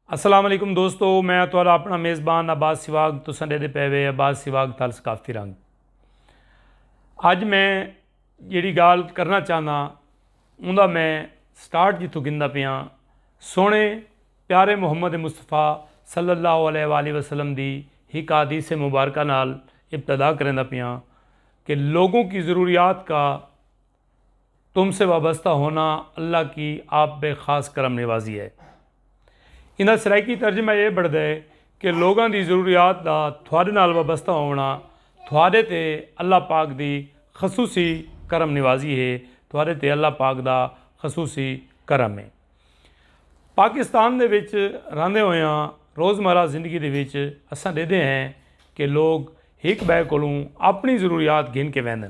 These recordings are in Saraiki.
السلام علیکم دوستو میں تہاڈا اپنا میزبان عباس سواگ تساں ڈیدے پے وے عباس سواگ تال ثقافتی رنگ اج میں جیڑی گال کرنا چاہنا اوندا میں سٹارٹ جتھوں گھندا پیاں سونے پیارے محمد مصطفی صلی اللہ علیہ والہ وسلم دی ہک حدیث مبارکہ نال ابتدا کریندا پیاں کہ لوگوں کی ضروریات کا تم سے وابستہ ہونا اللہ کی آپ بے خاص کرم نوازی ہے۔ ایندا سرائیکی ترجمہ اے بنڑدا ہے کہ لوگاں دی ضروریات دا تہاڈے نال وابستہ ہووݨا تہاڈے تے اللہ پاک دی خصوصی کرم نوازی ہے، تہاڈے تے اللہ پاک دا خصوصی کرم ہے۔ پاکستان دے وچ رہندے ہویاں روزمرہ زندگی دے وچ اساں ڈیدھے ہیں کہ لوگ ہک بئے کولوں اپنڑی ضروریات گھن کے ویندن۔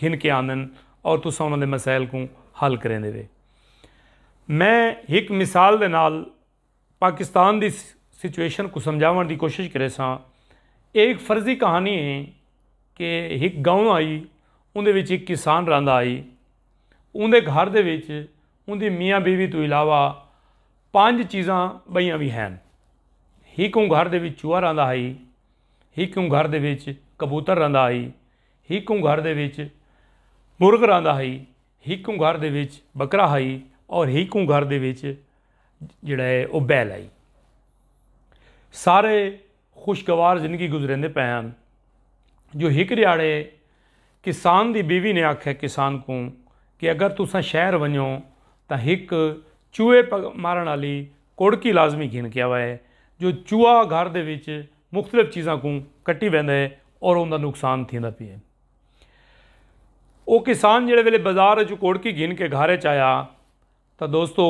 گھن کے آندن اور تساں انہاں دے مسائل کوں حل کریندے وے۔ میں ہک مثال دے نال پاکستان دی سچویشن کوں سمجھاوݨ دی کوشش کریساں۔ ایہ ہک فرضی کہانی ہے کہ ہک گاؤں ہئی اوندے وچ ہک کسان رہندا ہئی۔ اوندے گھر دے وچ اوندی میاں بیوی توں علاوہ پنج چیزاں ٻئیاں وی ہن۔ ہک اوں گھر دے وچ چوہا رہندا ہئی، ہک اوں گھر دے وچ کبوتر رہندا ہئی، ہیکوں گھر دے وچ مرغ رہندا ہئی، ہیکوں گھر دے وچ بکرا ہئی اور ہیکوں گھر دے وچ جیڑھا ہے او بیل ہئی۔ سارے خوشگوار زندگی گزریندے پئے ہن جو ہک ڈیہاڑے کسان دی بیوی نے آکھیا کسان کوں کہ اگر تساں شہر ونجو تاں ہک چوہے مارݨ آلی کوڑکی لازمی گھن کے آوئے جو چوہا گھر دے وچ مختلف چیزاں کوں کٹی ویندا ہے اور اوندا نقصان تھیندا پئے۔ او کسان جیڑھے ویلے بازار اچوں کوڑکی گھن کے گھر اچ آیا تاں دوستو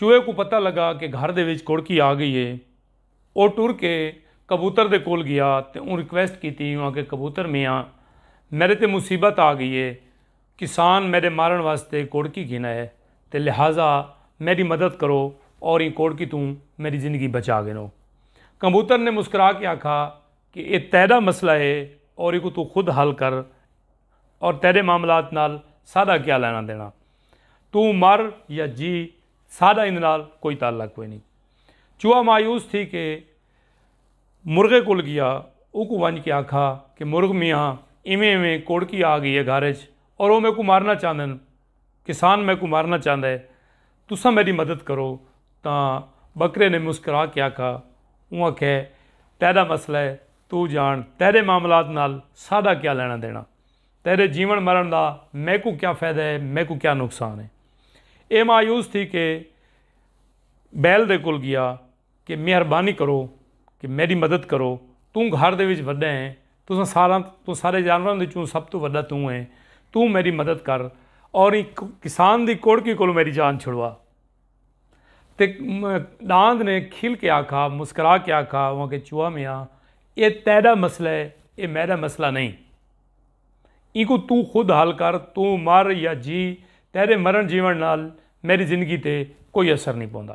چوہے کوں پتہ لگا کہ گھر دے وچ کوڑکی آ گئی ہے۔ او ٹر کے کبوتر دے کول گیا تے اوں ریکویسٹ کیتی اوں آکھیا کبوتر میاں میڈے تے مصیبت آ گئی ہے۔ کسان میڈے مارن واسطے کوڑکی گھن آئے تے لہذا میڈی مدد کرو اور ایں کوڑکی توں میڈی زندگی بچا گھنو۔ کمبوتر نے مسکرا کے آکھا کہ اے تیڈا مسئلہ ہے اور ایکوں توں خود حل کر اور تیڈے معاملات نال ساڈا کیا لینا دینا۔ توں مر یا جی ساڈا ایندے نال کوئی تعلق کوئی نیں۔ چوہا مایوس تھی کے۔ مرغے کول گیا اوکوں ونج کے آکھا کہ مرغ میاں ایویں ایویں کوڑکی آ گئی ہے گھر اچ اور او میکوں مارنا چاہندن کسان میکوں مارنا چاہندا ہے تساں میڈی مدد کرو تاں بکرے نے مسکرا کے آکھا اوں آکھے تیڈا مسئلہ ہے تو جان تیڈے معاملات نال ساڈا کیا لینا دینا تیڈے جیون مرن دا میکوں کیا فیدہ ہے میکوں کیا نقصان ہے اے مایوس تھی کے بیل دے کول گیا۔ کہ مہربانی کرو کہ میڈی مدد کرو توں گھر دے وچ وڈا ہیں تساں ساراں توں سارے جانوراں دے چوں سب توں وڈا توں ہیں توں میڈی مدد کر اور ایں کسان دی کوڑکی کولوں میڈی جان چھڑوا تے ڈاند نے کھل کے آکھا مسکرا کے آکھا اواں کے چوہا میاں اے تیڈا مسئلہ ہے اے میڈا مسئلہ نہیں اینکوں توں خود حل کر توں مر یا جی تیڈے مرن جیون نال میڈی زندگی تے کوئی اثر نہیں پوندا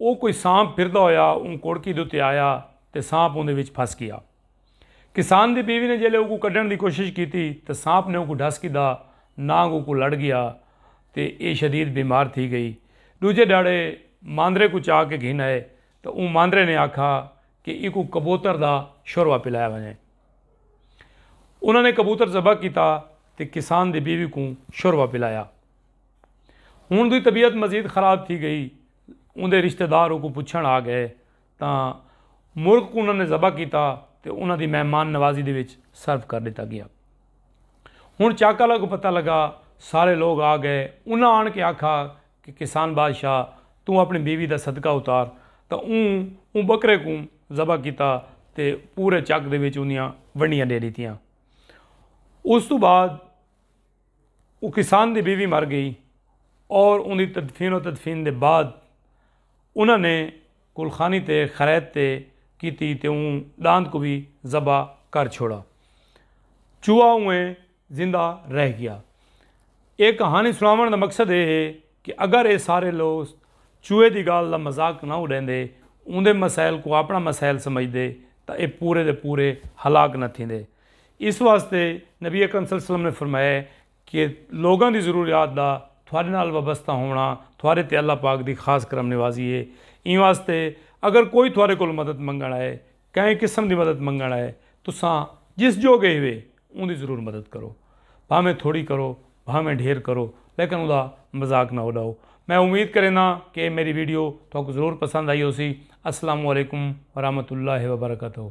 او کوئی سانپ پھردا ہویا اوں کوڑکی دے اتے آیا تے سانپ اوندے وچ پھس گیا۔ کسان دی بیوی نے جیلے اوکوں کڈھن دی کوشش کیتی تاں سانپ نے اوکوں ڈھس گھدا نانگ اوکوں لڑ گیا تے ایہ شدید بیمار تھی گئی۔ ڈوجھے ڈھاڑے ماندرے کوں چا کے گھن آئے تاں اوں ماندرے نے آکھا کہ ایکوں کبوتر دا شوروا پلایا ونجے۔ انہاں نے کبوتر ذبح کیتا تے کسان دی بیوی کوں شوروا پلایا۔ ہن اوندی طبیعت مزید خراب تھی گئی۔ اوندے رشتہ دار اوکوں پچھݨ آ گئے تاں مرغ کوں انہاں نے ذبح کیتا تے انہاں دی مہمان نوازی دے وچ صرف کر ݙتا ڳیا۔ ہݨ چاکالا کوں پتہ لڳا۔ سارے لوک آ گئے۔ انہاں آݨ کے آکھا کہ کسان بادشاہ توں اپݨی بیوی دا صدقہ اتار تاں اوں اوں ٻکرے کوں ذبح کیتا تے پورے چک دے وچ اوندیاں ونڈیاں ݙے ݙتیاں۔ اوس توں بعد۔ اوں کسان دی بیوی مر گئی اور اوندی تدفین و تدفین دے بعد انہاں نے کلخانی تے خرید تے کیتی تے اوں ڈاند کوں وی ذبح کر چھوڑا۔ چوہا اوئیں زندہ رہ گیا۔ اے کہانی سناوݨ دا مقصد اے ہے کہ اگر اے سارے لوگ چوہے دی گالھ دا مذاق نہ اڈیندے اوندے مسائل کوں اپݨا مسائل سمجھدے تاں اے پورے دے پورے ہلاک نہ تھیندے۔ اس واسطے نبی اکرم صلی اللہ علیہ وسلم نے فرمایا ہے کہ لوگاں دی ضروریات دا تھوڑے نال وابستہ ہووݨا تھوڑے تے اللہ پاک دی خاص کرم نوازی ہے۔ ایں واسطے اگر کوئی تھوڑے کولوں مدد منگݨ آئے، کہیں قسم دی مدد منگݨ آئے، تساں جس جوڳے ہیوے اوندی ضرور مدد کرو۔ بھانویں تھوڑی کرو، بھانویں ڈھیر کرو، لیکن اوندا مذاق نہ اݙاؤ۔ میں امید کرینداں کہ اے میݙی ویڈیو تہاکوں ضرور پسند آئی ہوسی۔ السلام علیکم ورحمۃ اللہ وبرکاتہ۔